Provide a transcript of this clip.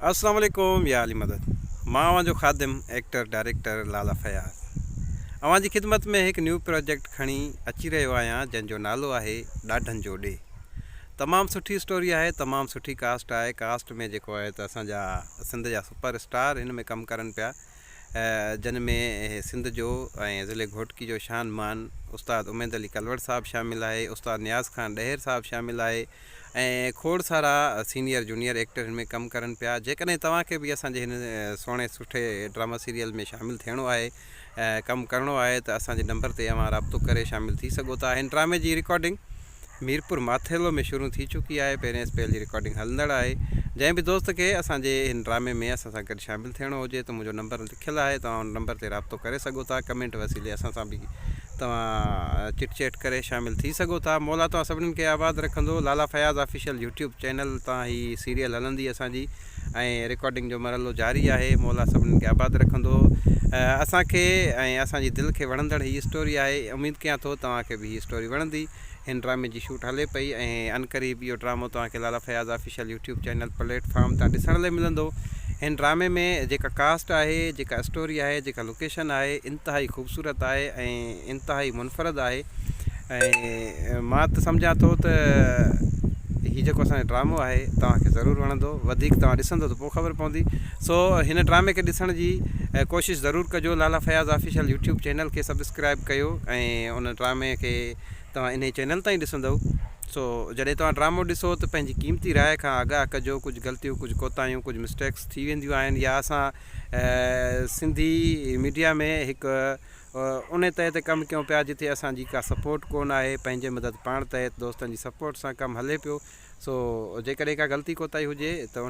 السلام عليڪم يا علي مدد مان اوهان جو خادم ايڪٽر ڊائريڪٽر لالا فياض اوهان جي خدمت ۾ هڪ نيو پراجيڪٽ کڻي اچي رهيو آهيان جنهن جو نالو آهي ڏاڍن جو ڏي تمام سٺي اسٽوري آهي تمام سٺي ڪاسٽ آهي ڪاسٽ ۾ جيڪو آهي ته اسان جا سنڌ جا سپر اسٽار هن ۾ ڪم ڪرن پيا جن ۾ سنڌ جو ۽ ضلع گهوٽڪي جو شان مان استاد اميد علي ڪلوڙ صاحب شامل آهي استاد نياز خان ڏهر صاحب شامل آهي ۽ کوڙ سارا سينيئر جونيئر ايڪٽر هن ۾ ڪم ڪرن پيا جيڪڏهن توهان کي به اسان جي هن سهڻي سٺي ڊراما سيريل ۾ شامل ٿيڻو آهي ڪم ڪرڻو آهي ته اسان جي نمبر تي اوهان رابطو ڪري شامل ٿي سگهو ٿا هن ڊرامي جي رڪارڊنگ ميرپور ماٿيلو ۾ شروع ٿي چڪي آهي پهرين اسپيل جي رڪارڊنگ هلندڙ آهي جنهن به دوست کي اسان جي هن ڊرامي ۾ اسان سان گڏ شامل ٿيڻو هجي ته منهنجو نمبر رکيل آهي توهان ان نمبر تي رابطو ڪري سگهو ٿا ڪمينٽ وسيلي اسان سان به توهان چٽ چيٽ ڪري شامل ٿي سگهو ٿا مولا توهان سڀنن کي آباد رکندو Lala Fayaz official YouTube channel تان هي سيريل هلندي اسان جي ۽ رڪارڊنگ جو مرحلو جاري آهي مولا سڀنن کي آباد رکندو اسان کي ۽ اسان جي دل کي وڻندڙ هي اسٽوري آهي اميد ڪيان ٿو توهان کي به هي اسٽوري وڻندي. هن ڊرامي جي شوٽ هلي پئي ۽ عنقريب اهو ڊرامو توهان کي Lala Fayaz official YouTube channel platform تان ڏسڻ لئي ملندو. هن ڊرامي ۾ جيڪا ڪاسٽ آهي، جيڪا اسٽوري آهي، جيڪا لوڪيشن آهي انتهائي خوبصورت آهي ۽ انتهائي منفرد آهي ۽ مان ته سمجهان ٿو ته هي جيڪو اسان جو ڊرامو آهي توهان کي ضرور وڻندو وڌيڪ توهان ڏسندو ته پوء خبر پوندي سو هن ڊرامي کي ڏسڻ جي ڪوشش ضرور ڪجو Lala Fayaz official YouTube channel کي سبسڪرائب ڪيو ۽ ان ڊرامي کي توهان انهي چينل تان ئي ڏسندؤ سو جڏهن توهان ڊرامو ڏسو ته پنهنجي قيمتي راء کان آگاهه ڪجو ڪجهه غلطيون ڪجهه ڪوتاهيون ڪجهه مسٽيڪس ٿي وينديون آهن يا اسان سنڌي ميڊيا ۾ هڪ انهي تهه تي ڪم ڪيون پيا جتي اسان جي ڪا سپورٽ ڪون آهي پنهنجي مدد پاڻ تحت دوستن جي سپورٽ سان ڪم هلي پيو سو جيڪڏهن ڪا غلطي ڪوتاهي هجي ته ان